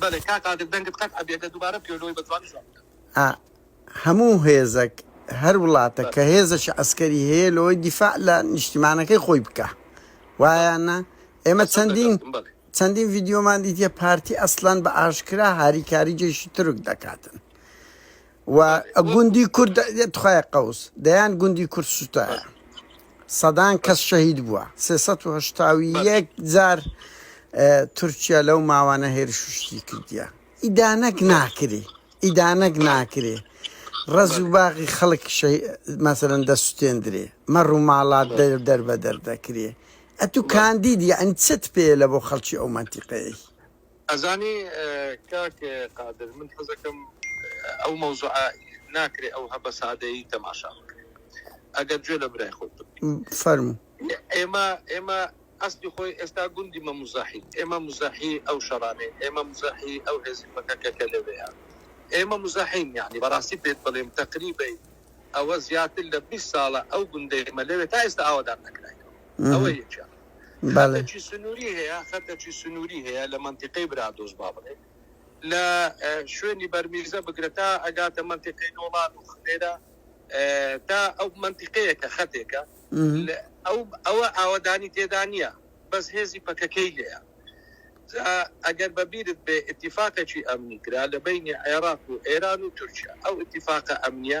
بەلێ کاک قادر دەنگت قەت ئەبێتە دوبارە بکەوێ لۆی بەجوانی جواب بدە. ئا هەموو هێزەک هەر وڵاتەک کە هێزەکی عەسکەری هەیە لۆی دیفاع لە نیشتیمانەکەی خۆی بکا وایە نا ئێمە چەندین چەندین ڤیدیۆمان دیتیە پارتی ئەسلەن بە ئاشکرا هاریکاری جەیشی تورک دەکاتن و گوندی کورد تخوای قەوس دەیان گوندی کورد سوتایە سەدان کەس شەهید بووە سێ جار تورکیا لەو ماوانە هێرش شتی کردیە ئیدانەک ناکری ئیدانەک ناکرێ ڕز و باغی خەڵک مەسەرەن دەستێندرێ مەڕ و ماڵات دەر دەر بە دەردەکرێ ئەتو کاندیدی ئەن چت پێ لە بۆ خەڵکی ئەو منتیقەیە ئەزانی کاک قادر من حەزەکەم ئەو مەوزوعە ناکرێ ئەو هەبە سادەیی تەماشا بکرێ ئەگەر جوێ لە برای خۆت فەرمو ئێمە ئێمە ئەستی خۆی ئێستا گوندی مە مزاحی ئێمە مزاحی ئەو شەڕانەی ئێمە مزاحی ئەو هێزی پەکەکەکە لەوەیە ئێمە مزاحین یعنی بەڕاستی پێت بڵێم تەقریبی ئەوە زیاتر لە 20 ساڵە ئەو گوندەی مە لەوێ تا ئێستا ئاوادان نەکراین ئەوە یەکیان خەتەکی سنووری هەیە خەتەکی سنووری هەیە لە منتیقەی برادۆز با بڵێ لە شوێنی بەرمیزە بگرە تا ئەگاتە منتیقەی نۆڵان و خلێرە تا ئەو منتیقەیە کە خەتێکە ئەو ئەوە ئاوەدانی تێدا نییە بەس هێزی پەکەکەی لێە ئەگەر بەبیرت بێ اتفاقێکی ئەمنی کرا لە بینی عێراق و ئێران و تورکیا ئەو اتفاقە ئەمنیە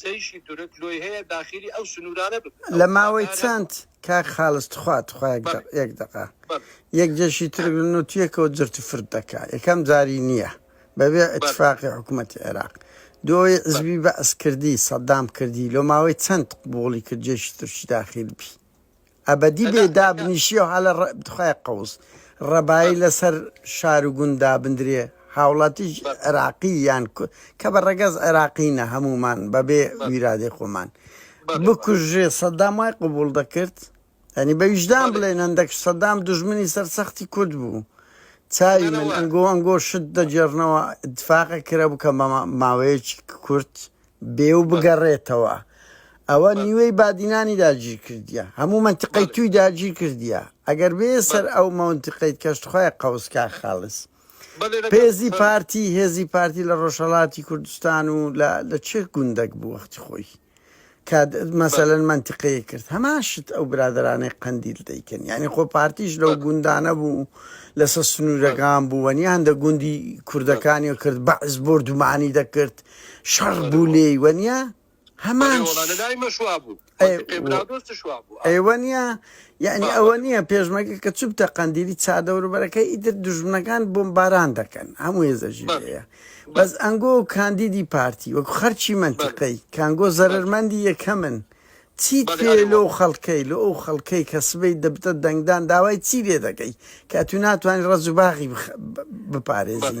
جەیشی تورک لۆی هەیە داخیلی ئەو سنورانە بکەن. لە ماوەی چەند کاک خالس تخوا تخوا یەک دەقە یەک جەیشی تورک لە نۆ تیەکەوە جرت و فرت دەکا یەکەم جاری نیە بە بێ ئیتفاقی حکومەتی عێراق دوەی عزبی بەعس کردی سەدام کردی لۆ ماوەی چەند قبوڵی کرد جەیشی تورکی داخیل بی ئەبەدی بێ دابنیشیە و هەلە ڕە تخوای قوز ڕەبایی لە سەر شار و گوند دابندرێ هاوڵاتیش عێراقی یان کو کە بە ڕەگەز عێراقینە هەموومان بە بێ ویرادەی خۆمان بکوژرێ سەدام وای قبووڵ دەکرد یانی بە ویژدان بڵێن هەندەک سەدام دوژمنی سەر سەختی کورد بوو چاوی من ئەنگۆ ئەنگۆ شت دەگێڕنەوە ئیتفاقە کرا بوو کە ماوەیەکی کورت بێ و بگەڕێتەوە ئەوە نیوەی بادینانی داگیر کردیە هەموو منتقەی توی داگیر کردیە ئەگەر بێ سەر ئەو مەونتقەیت کەشتخوای قەوسکا خاڵس پێزی پارتی هێزی پارتی لە ڕۆژهڵاتی کوردستان و لە چ گوندەک بوو وەختی خۆی مەسەلەن منتقەیە کرد هەمان شت ئەو برادرانەی قەندیل دەیکەن یعنی خۆ پارتیش لەو گوندانە بوو لەسەر سنوورەکان بوو وەنی هەندە گوندی کوردەکانی کرد بەعز بردومانی دەکرد شەڕ بوو لێی وەنیا هەمان ئێوە نیە یعنی ئەوە نییە پێشمەگە کە چوبتە قەندیلی چادەوربەرەکە ئیتر دژمنەکان بۆم باران دەکەن هەموو ێزەژیەیە بەس ئەنگۆ و کاندیدی پارتی وەکو خەرچی منتیقەی کانگۆ زەرمەندی یەکەمن چی پێ لۆ خەڵکەی لۆ ئەو خەڵکەی کە سبەی دەبتە دەنگدان داوای چی لێ دەکەی کە تو ناتوانانی ڕەزوباغی بپارێزی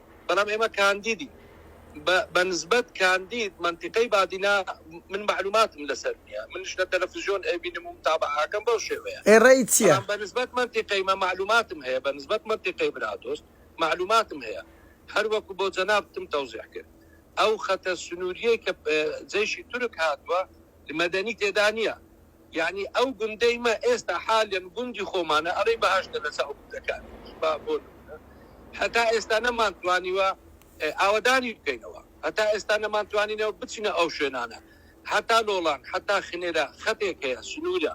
بەڵام ئێمە کاندیدین بە بەنسبەت کاندید مەنتیقەی بادینا من مەعلوماتم لەسەر نیە منش لە تەلەفزیۆن ئەیبینم و متابەعەکەم بەو شێوەیە ئێ ڕێی چیە؟ بەڵام بەنسبەت مەنتیقەی مە مەعلوماتم هەیە بەنسبەت مەنتیقەی برادۆست مەعلوماتم هەیە هەر وەکو بۆ جەنابتم تەوزیح کرد ئەو خەتە سنووریەی کە جەیشی تورک هاتووە مەدەنی تێدا نیە یەعنی ئەو گوندەی مە ئێستا حالەن گوندی خۆمانە ئەڵێی بەهەشتە لەچاو گوندەکان با بۆ نمونە هەتا ئێستا نەمان توانیوە ئاوەدانی بکەینەوە هەتا ئێستا نەمان توانینەوە بچینە ئەو شوێنانە هەتا لۆڵان هەتا خنێرە خەتێک هەیە سنورە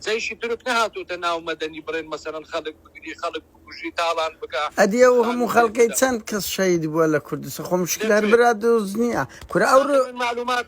جەیشی تورک نەهاتۆتە ناو مەدەنی بڕێن مەسەلەن خەلک بگری خەلک بکوژی تاڵان بکا ئەدی ئەو هەموو خەلکەی چەند کەس شەهید بوە لە کوردستان خۆ مشکلە هەر برا دۆست نیە کورە ئەو معلومات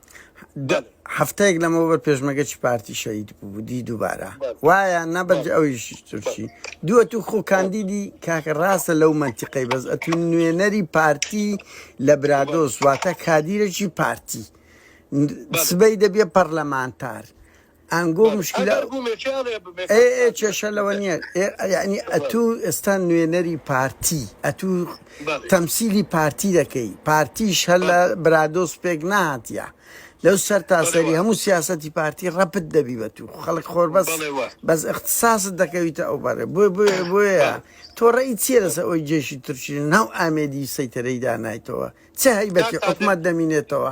هەفتەیەک لەمەوبەر پێشمەگەچی پارتی شەهید بوو دی دووبارە وایە نەبەرجە ئەویش تورکی دووە تو خۆ کاندیدی کاکە ڕاستە لەو منتیقەی بەس ئەتو نوێنەری پارتی لە برادۆس واتە کادیرەکی پارتی سبەی دەبێ پەرلەمانتار ئانگۆ بەس مشکلە ئەگەر بوومێ کێ ئەڵێ بمێ ئێ ئێ پاکتاز بە کێشە لەوە بە نییە ئێ یعنی بە ئەتوو ئێستا نوێنەری پارتی ئەتوو بەڵێ تەمسیلی پارتی دەکەی پارتیش هەر لە بەڵێ برادۆس پێک نهاتیە لەو سەر بەڵێ تاسەری وا هەموو سیاسەتی پارتی ڕەپت دەبی بە توو خەڵک خۆر بەس بەڵێ وا بەس اختصاصت دەکەویتە ئەو بەرێ بۆ بۆ بۆیە بەڵێ تۆ ڕێی چییە لەسەر ئەوەی جێشی تورکی ناو ئامێدی سەیتەرەی دانایتەوە چه هەیبەتی کاک قادر حکومەت دەمینێتەوە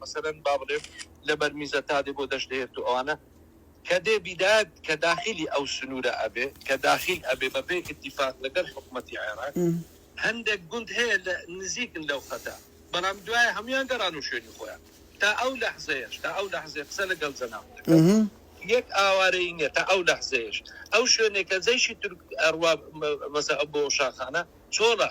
مەسەلەن با بڵێم لە بەر میزە تا دێ بۆ دەشت دەێرت و ئەوانە کە دێ بیدات کە داخیلی ئەو سنوورە ئەبێ کە داخیل ئەبێ بە پێی ئیتیفاق لە گەل حکومەتی عێراق هەندێک گوند هەیە لە نزیکن لەو خەتە بەڵام دوایە هەموویان گەڕانوو شوێنی خۆیان تا ئەو لەحزەیەش تا ئەو لەحزێ قسە لە گەل زەناون دەکەم یەک ئاوارەی نیە تا ئەو لەحزەیەش ئەو شوێنێکە جەیشی تورک ئەڕوا مەسە بۆ شاخانە چۆڵە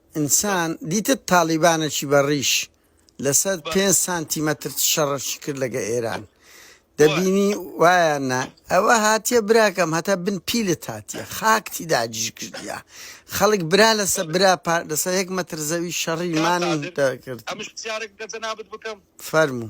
انسان دیتت تاڵیبانەکی بە ڕیش لە سەر پێنج سانتی مەتر چ شەڕەکی کرد لەگە ئێران دەبینی وایان نا ئەوە هاتیە براکەم هەتا بن پیلت هاتیە خاکتی داگیر کردیە خەڵک برا لەسە برا پار لەسەر یەک مەتر زەوی شەڕی مانی دەکرد ئەمش پرسیارێک لە جەنابت بکەم؟ فەرموو.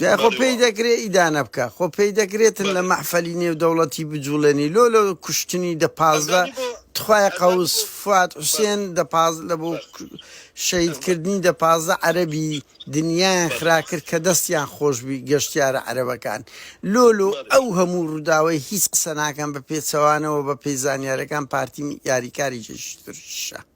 جا خۆ بەڵێ پێی وەڵا دەکرێ ئیدانە بکا خۆ پێی دەکرێتن لە بەڵێ مەحفەلی نێو دەوڵەتی بجوڵێنی لۆ لۆ کوشتنی دە پازدە ئەزانی بۆ تخوایە ئەزانی قەوس بۆ فواد بەس حوسێن دە پاز لە بۆ بەس شەید ئەمە کردنی دە پازدە عەرەبی دنیایان بەڵێ خرا کرد کە دەستیان خۆش بی گەشتیارە عەرەبەکان لۆ لۆ بەڵێ ئەو هەموو ڕووداوەی هیچ قسە ناکەن بە پێچەوانەوە بە پێی زانیارەکان پارتی یاریکاری جێ شترشە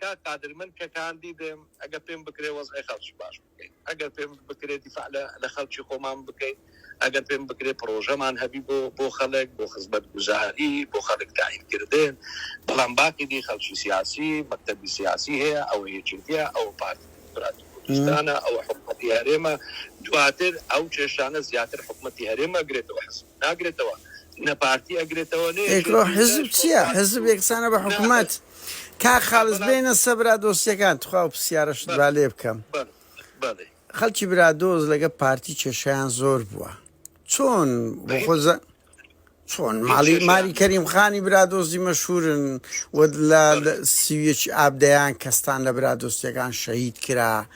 کاک قادر من کە کاندی دم ئەگەر پێم بکرێ وەزعی خەڵکی باش بکەین ئەگەر پێم بکرێ دیفاع لە لە خەڵکی خۆمان بکەین ئەگەر پێم بکرێ پڕۆژەمان هەبی بۆ بۆ خەڵک بۆ خزمەت گوزاری بۆ خەڵک تاین کردن بەڵام باقی دی خەڵکی سیاسی مەکتەبی سیاسی هەیە ئەوە یەکێتیە ئەوە پارتی دیموکراتی کوردستانە ئەوە حکومەتی هەرێمە دواتر ئەو کێشانە زیاتر حکومەتی هەرێم ئەگرێتەوە حزب ناگرێتەوە نە پارتی ئەگرێتەوە نە یەکێتی ئەیکڕۆ حیزب چیە حیزب یەکسانە بە حکومەت کاک خاڵس بێنە سە برادۆستیەکان تخوا ئەو پسیارەشت با لێ بکەم خەلکی برادۆز لەگە پارتی کێشەیان زۆر بووە چۆن بۆ خۆزە چۆن ماڵی ماری کەریم خانی برادۆزی مەشورن و لە سیویەکی ئابدەیان کەستان لە برادۆستیەکان شەهید کرا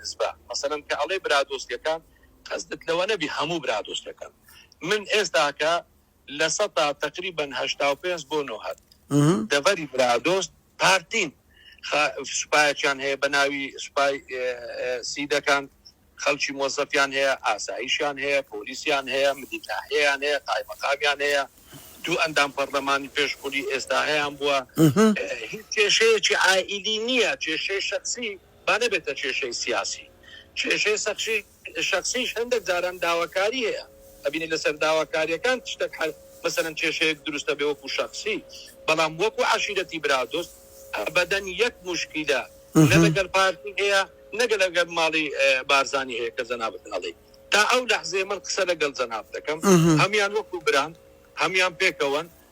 نسبە مەسەلەن کە ئەڵێی برادۆستیەکان قەسدت لەوە نەبی هەموو برادۆستەکان من ئێستا کە لە سەتا تەقریبەن هەشتا و پێنج بۆ نۆ هەت دەڤەری برادۆست پارتین سوپایەکیان هەیە بە ناوی سوپای سیدەکان خەڵکی مۆزەفیان هەیە ئاساییشیان هەیە پۆلیسیان هەیە مدیتاهەیەیان هەیە قایمەقامیان هەیە دوو ئەندام پەرلەمانی پێشخوری ئێستا هەیان بووە کێشەیەکی ئائیلی نییە کێشەی شخصی با نەبێتە کێشەی سیاسی کێشەی سەخشی شەخسیش هەندەک جاران داواکاری هەیە ئەبینی لەسەر داواکاریەکان تشتەک حەل مەسەلەن کێشەیەک دروست ئەبێ وەکو شەخسی بەڵام وەکو عەشیرەتی برا دۆست ئەبەدەن یەک موشکیلە نە لەگەل پارتی هەیە نە لەگەل ماڵی بارزانی هەیە کە جەنابت ئەڵێی تا ئەو لەحزەی من قسە لەگەل جەناب دەکەم هەمیان وەکو بران هەمیان پێکەوەن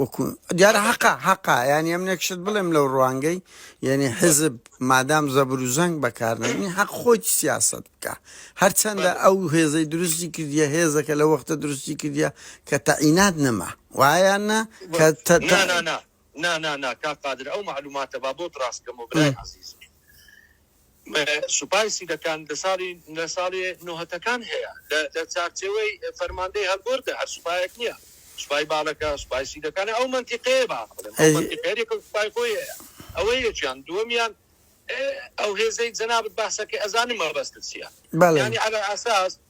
وەکو دیارە حەقا حەقا یانی ئەم نەکشت بڵێم لەو ڕوانگەی یعنی حزب مادام زەبر و زەنگ بەکارنی حەق خۆی سیاست بکە هەرچەندە ئەو هێزەی دروستی کردیە هێزەکە لە وەختە دروستی کردیە کە تەعینات نەما وایانە کە نانا نا نا نا کا قادر ئەو معلوماتە با بۆ ڕاستکەم و برای عزیز سوپای سیدەکان لە ساڵی لە ساڵی نۆهەتەکان هەیە لە لە چارچێوەی فەرماندەی هەلگۆردە هەر سوپایەک نییە سوپای باڵەکە سوپای سیدەکانە ئەو مەنتیقەیە با بڵێم ئەو مەنتیقەیە لێکە سوپای خۆی هەیە ئەوە یەکیان دووەمیان ئەو هێزەی جەنابت باسەکەی ئەزانم مەبەستت چییە بەڵێ یانی عەلەلئەساس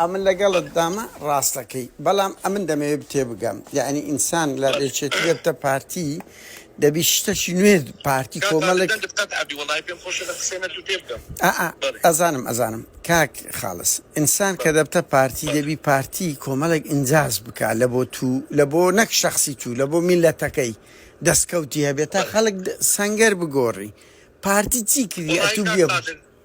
ئەمن لەگەڵت دامە ڕاستەکەی بەڵام ئەمن دەمەوێ بتێبگەم یەعنی ئینسان لە یەکێتی دەبتە پارتی دەبی شتەکی نوێ پارتی کۆمەڵێک ئەئا ئەزانم ئەزانم کاک خاڵس ئینسان کە دەبتە پارتی دەبی پارتی کۆمەڵێک ئینجاز بکا لە بۆ تو لە بۆ نەک شەخسی تو لە بۆ میلەتەکەی دەستکەوتی هەبێت تا خەڵک سەنگەر بگۆڕی پارتی چی کردی ئەتو بێ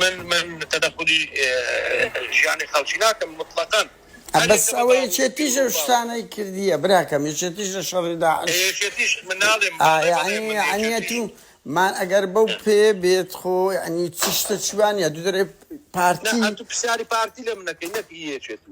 من من تەدەخولی ژیانی خەڵکی ناکەم مطلقەن. ئە بەس ئەوە یەکێتیش ئەو شتانەی کردیە براکەم یەکێتیش لە شەڕی داعش ئا یەعنی یەعنی ئەتوو مان ئەگەر بەو پێیە بێت خۆ یەعنی چ شتە چوانیە دوو دەرێ پارتی.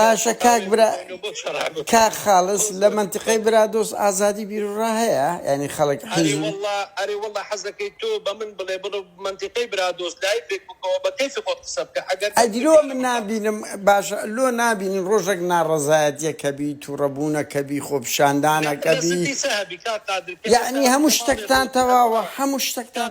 باشە کاک برا کاک خاڵس لە مەنتقەی برادۆست ئازادی بیروڕا هەیە یعنی خەڵک حیزب ئەرێ واللە حەزەکەی تۆ بە من بڵێ بڵێ مەنتقەی برادۆست لایفێک بکەوە بە کەیفی خۆت قسە بکە ئەگەر ئەدی لۆ من نابینم باشە لۆ نابینن ڕۆژێک ناڕەزایەتیەکە بی تووڕەبوونەکە بی خۆپیشاندانەکە بی یعنی هەموو شتێکتان تەواوە هەموو شتێکتان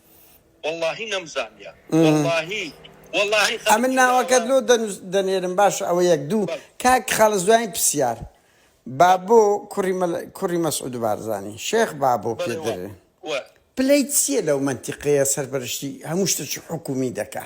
وەڵاهی نەمزانیە وەڵاهی وەڵاهی خەڵکی ئەمن ناوەکەت لۆ دەنێرم باشە ئەوە یەک دوو کاک خەڵس دوایین پرسیار بابۆ کوڕی کوڕی مەسعود بارزانانی شێخ بابۆ پێدرێ پلەی چییە لەو منتیقەیە سەرپەرشتی هەموو شتێکی حکومی دەکا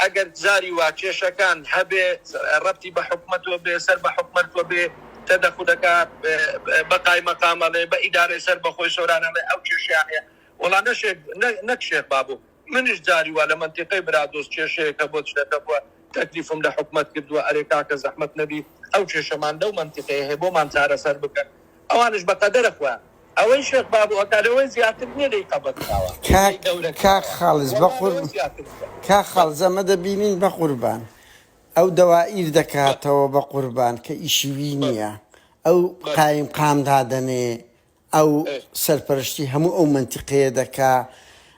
ئەگەر جاری وا کێشەکان هەبێ رەبتی بە حکومەتەوە بێ، سەر بە حکومەتوە بێ، تەدەخولەکە بە قایمەقام ئەڵێ، بە ئیدارەی سەر بە خۆی سۆران ئەڵێ ئەو کێشەیان هەیە. وەڵا نە شێخ نەک شێخ بابۆ، منیش جاری وا لە مەنتیقەی برادۆست کێشەیەک هەبووە چنەکە بووە، تەکلیفم لە حکومەت کردووە ئەرێ کاکە زەحمەت نەبی ئەو کێشەمان لەو مەنتیقەیە هەیە بۆمان چارەسەر بکەن. ئەوانش بە قەدەرە خۆیان. ئەوەی شێخ بابو ئەکا لەوە زیاتر نیە لێی قەبەت کراوە لێی گەورە کراوە وەڵا لەوە زیاتر نیە. کاک خالز ئەمە دەبینین بەقوربان ئەو دەوائیر دەکاتەوە بەقوربان کە ئیشی وی نیە ئەو قایم قام دادەنێ ئەو سەرپەرشتی هەموو ئەو مەنتیقەیە دەکا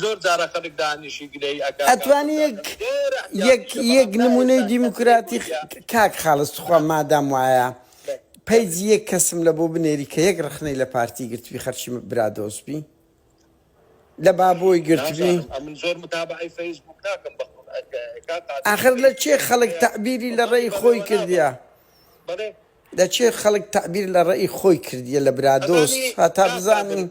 زۆر جارە خەلک دانیشی گلەی ئەکا کاکە ئەتوانی یەک کاکە زۆر یەک احتیاجیشە بەڵام یەک نمونەی نایەتە ئەو دیموکراتی کەتیگۆریا خ کاک خالس توخوا بەس مادام وایە بەس بەس پەیجی یەک کەسم لە بۆ بنێری کە یەک رەخنەی لە پارتی گرتبی خەرکی م برا دۆست بی لە بابۆی گرتبی نازانم ئەمن زۆر متابەعەی فەیس بوک ناکەم بەخوت ئەک کاک قادری ئاخر لە فەیس کێ بوکم خەلک هەیە تەعبیری لە بەڵێ ڕێی بەڵێ خۆی وەلا کردیە بەڵێ بەڵێ لە چێ خەلک تەعبیر لە ڕەئی خۆی کردیە لە برا دۆست ئەزانی هەتا کاک بزانی قادر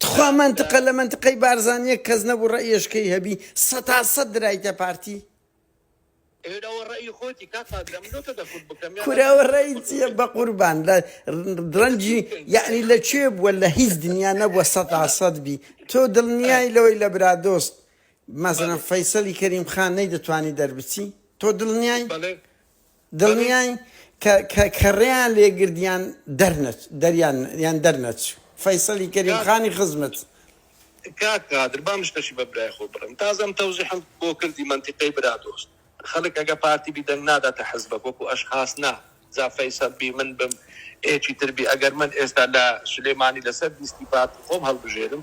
تخوا مەنتقە لە مەنتقەی بارزان یەک کەس نەبوو ڕەئیەشکەی هەبی سەتا سەت درایتە پارتی. ئێرە ئەوە ڕەئی خۆتی کاک قادر ئەمن لۆ تۆ دەکورد بکەم یان کورە ئەوە ڕەئی چیە بەقوربان لە ڕەنجی یەعنی لە کوێ بووە لە هیچ دنیا نەبووە سەتا سەت بی تۆ دڵنیای لەوەی لە برادۆست مەسەلەن فەیسەلی کەریم خان نەیدەتوانی دەربچی تۆ دڵنیای دڵنیاین کە کە کە ڕێیان لێ گرت یان دەرنەچ دەریان یان دەرنەچ فەیسەلی کەریم کاک خانی خزمت. کاک قادر با مشتەشی بە برای خۆ بڕێم تازە ئەم تەوزیحەم بۆ کردی مەنتیقەی برا دۆست خەلک ئەگە پارتی بی دەنگ ناداتە حزبەک وەکو ئەشخاس نا جا فەیسەل بی من بم ئێکی تر بی ئەگەر من ئێستا لە سولێمانی لەسەر لیستی پارتی خۆم هەلبژێرم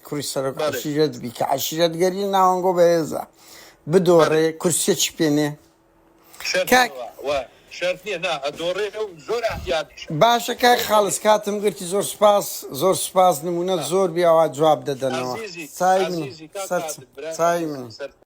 کوڕی سەرۆک عەشیرەت بی کە عەشیرەتگەری ناوەنگۆ بەهێزە بدۆڕێ کورسیەکی پێ نێ کاک باشە کاک خاڵس کاتم گرتی زۆر سپاس زۆر سپاس نمونەت زۆر بێ ئەوا جواب دەدەنەوە چای من سەرچ چای من